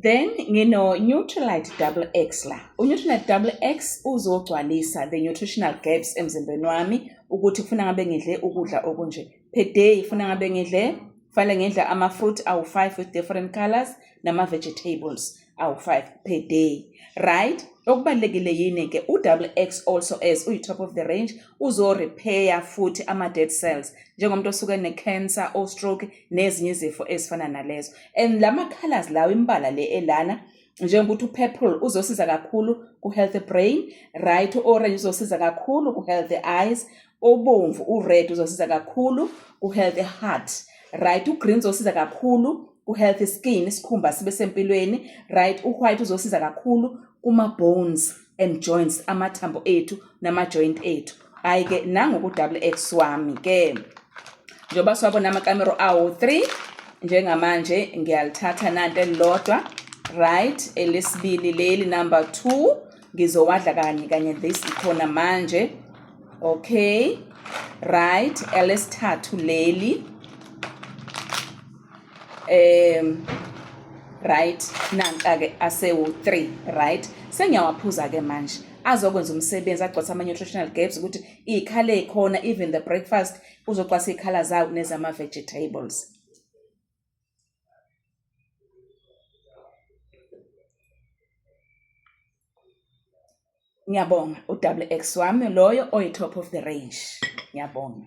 Then ngino-Nutrilite Double X la. U-Nutrilite Double X uzogcwalisa the nutritional gaps emzimbeni wami ukuthi kufuna ngabe ngidle ukudla okunje. Per day kufuna ngabe ngidle kufanele ngidle ama-fruit awu-five with different colors nama-vegetables awu-five per day right okubalulekile yini-ke u-double x also as uyi-top of the range uzo-repair futhi ama-dead cells njengomuntu osuke ne-cancer o-stroke nezinye izifo ezifana nalezo and la ma-colors lawo imbala le elana njengokuthi upurple uzosiza kakhulu ku-healthy brain right u-orange uzosiza kakhulu ku-healthy eyes obomvu u-red uzosiza kakhulu ku-healthy heart right ugreen uzosiza kakhulu ku-healthy skin isikhumba sibe sempilweni right u-white uzosiza kakhulu kuma-bones and joints amathambo ethu nama-joint ethu hhayi ke nangoku-double x wami ke njengoba siwabona amakamero awo three njengamanje ngiyalithatha nanto elilodwa right elesibili leli number two ngizowadla kanye kanye this ikhona manje okay right elesithathu leli um right nanka-ke asewu-three right sengiyawaphuza-ke manje azokwenza umsebenzi agcwasa ama-nutritional gaps ukuthi iy'khala ey'khona even the breakfast uzogcwasa iy'khala zawo nezama-vegetables ngiyabonga u-wx wami loyo oyi-top of the range ngiyabonga